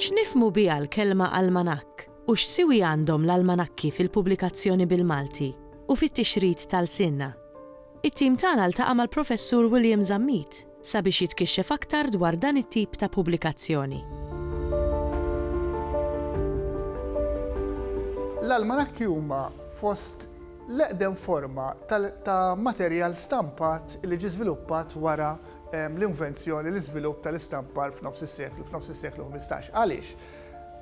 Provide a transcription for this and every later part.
X'nifhmu biha l-kelma almanakk u x'siwi għandhom l-almanakki fil-pubblikazzjoni bil-Malti u fit-tixrid ta' lsienna? It-tim tagħna ltaqa' mal-Professur William Zammit. sabiex jitkixxef aktar dwar dan it-tip ta' pubblikazzjoni. L-almanakki huma fost l-eqdem forma ta' materjal stampat li ġie żviluppat wara l-invenzjoni, l-iżvilupp tal-istampar f'nofs is-seklu, f'nofs is-seklu ħmistax. Għaliex?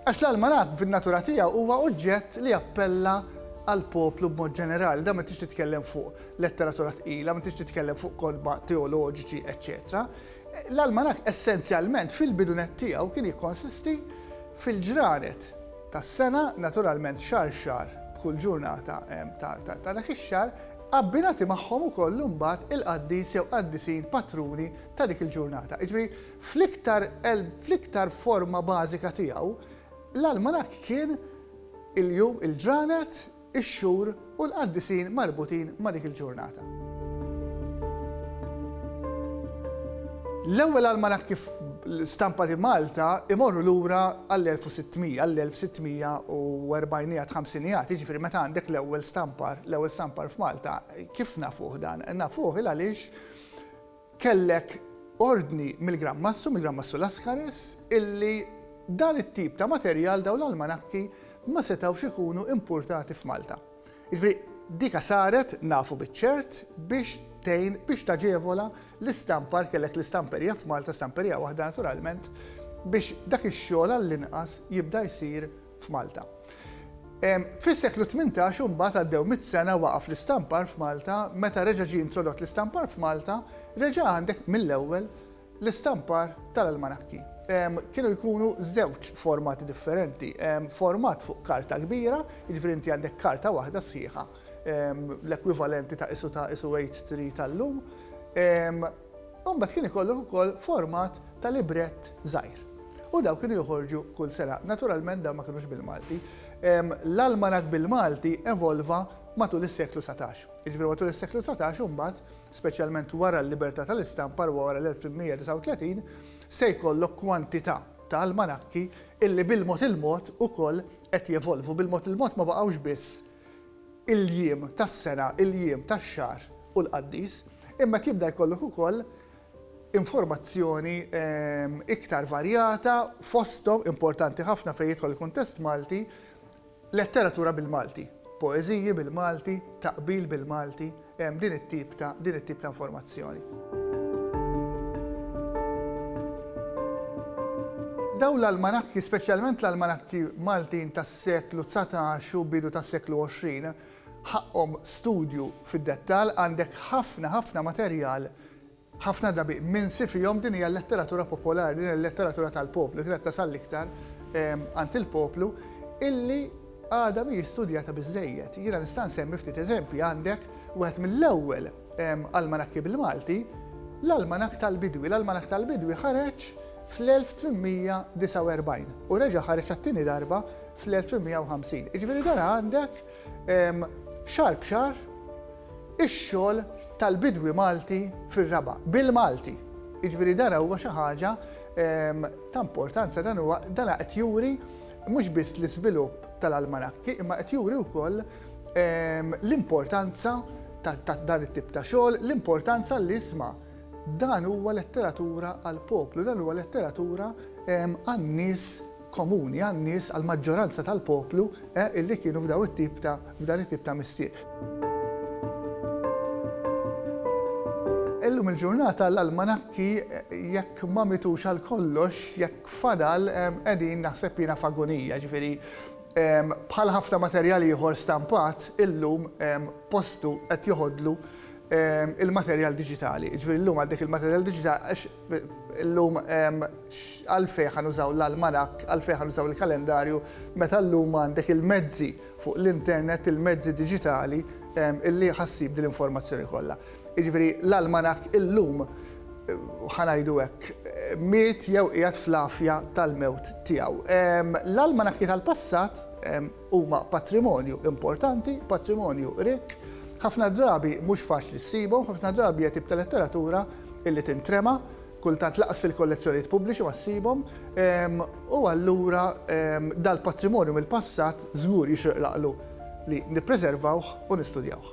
Għax l-almanakk fin-natura tiegħu huwa oġġett li jappella għall-poplu b'mod ġenerali, dan ma tridx titkellem fuq. letteratura tqila, ma tridx titkellem fuq kotba teoloġiċi, eċċetera. L-almanakk essenzjalment fil-bidunet tiegħu kien jikkonsisti fil-ġranet tas-sena, naturalment xar xar b'kull ġurnata ta' dak ix-xar, abbinati magħhom ukoll imbagħad il-qaddis jew qaddisin patruni ta' dik il-ġurnata. Jiġri fl-iktar forma bażika tiegħu, l-almanakk kien il-jum, il-ġranet, ix-xhur u l-qaddisin marbutin ma' dik il-ġurnata. L-ewwel almanakki stampati f'Malta jmorru lura għall-1600, għall-1640iat, ħamsiniat, jiġifieri meta għandek l-ewwel stampar, l-ewwel stampar f'Malta. Kif nafuh dan? Nafuh il għaliex, Kellek ordni mill-Gran Mastru, mill-Gran Mastru Lascaris, illi dan it-tip ta' materjal, dawn l-almanakki, ma setgħux ikunu impurtati f'Malta. Jiġifieri dika saret, nafu biċ-ċert, biex tgħin, biex taġevola l-istampar, kellek l-istamperija f'Malta, stamperija waħda naturalment, biex dak ix-xogħol għallinqas jibda jsir f'Malta. Fis-seklu tmintax imbagħad għaddew mitt sena waqaf l-istampar f'Malta, meta reġa' ġie introdott l-istampar f'Malta, reġa' għandek mill-ewwel l-istampar tal-almanakki. Kienu jkunu żewġ formati differenti, format fuq karta kbira, jiġifieri inti għandek karta waħda sħiħa, l-ekwivalenti ta' qisu ta' qisu A3 tal-lum, U mbagħad kien ikollok ukoll format ta' librett żgħir. U dawn kienu joħorġu kull sena. Naturalment dawn ma kinux bil-Malti. L-almanak bil-Malti evolva matul is-seklu satax. Jiġifieri matul is-seklu satax u mbagħad, speċjalment wara l-libertà tal-istampar u wara l-1839, se jkollok kwantità ta' almanakki illi bil-mod il-mod ukoll qed jevolvu. Bil-mod il-mod ma baqgħux biss il-jiem tas-sena, il-jiem tax-xahar u l-qaddis, imma qed jibda jkollok ukoll informazzjoni iktar varjata fosthom, importanti ħafna fejn jidħol il-kuntest Malti, letteratura bil-Malti, poeżiji bil-Malti, taqbil bil-Malti. hemm din it-tip ta' din it-tip ta' informazzjoni. Dawn l-almanakki, speċjalment l-almanakki Maltin tas-seklu dsatax u bidu tas-seklu għoxrin, ħaqqhom studju fid-dettall, għandek ħafna ħafna materjal Ħafna drabi minsi fihom din hija l-letteratura popolari, din hija l-letteratura tal-poplu, li kienet tasal l-iktar għand il-poplu, illi għadha mhijiex studjata biżżejjed. Jiena nista' nsemmi ftit eżempji, għandek wieħed mill-ewwel almanakki bil-Malti, l-Almanakk tal-Bidwi. L-Almanakk tal-Bidwi ħareġ fl-1849 u reġa' ħareġ għat-tieni darba fl-1850. Jiġifieri dan għandek xahar b'xahar, ix-xogħol tal-bidwi Malti fir-raba', bil-Malti. Jiġifieri dan huwa xi ħaġa ta' importanza, dan huwa dan qed juri mhux biss l-iżvilupp tal-almanakki imma qed juri wkoll l-importanza ta' dan it-tip ta' xogħol, l-importanza li isma' dan huwa letteratura għall-poplu, dan huwa letteratura għan-nies komuni għan-nies, għall-maġġoranza tal-poplu, eh, illi kienu f'daw it-tip ta', f'dan it-tip ta' mistier. Illum il-ġurnata l-almanakki jekk ma mitux għal kollox, jekk fadal qegħdin naħseb jiena f'agonija, ġifieri bħal ħafna materjal ieħor stampat, illum postu qed joħodlu il-materjal diġitali. Ġifieri llum għaddek il-materjal diġitali għax Illum għalfejn ħa nużaw l-almanakk, għalfejn ħa nużaw il-kalendarju meta llum għandek il-mezzi fuq l-internet, il-mezzi diġitali illi ħa ssib din l-informazzjoni kollha. Jiġifieri l-almanakk illum, ħa ngħidu hekk, miet jew qiegħed fl-għafja tal-mewt tiegħu. L-almanakki tal-passat, Huma patrimonju importanti, patrimonju rikk, ħafna drabi mhux faċli ssibhom, ħafna drabi hija tip ta' letteratura illi tintrema, kultant lanqas fil-kollezzjonijiet pubbliċi ma ssibhom, u allura dal-patrimonju mill-passat żgur jixraq l-għaqlu li nippreservawh u nistudjawh.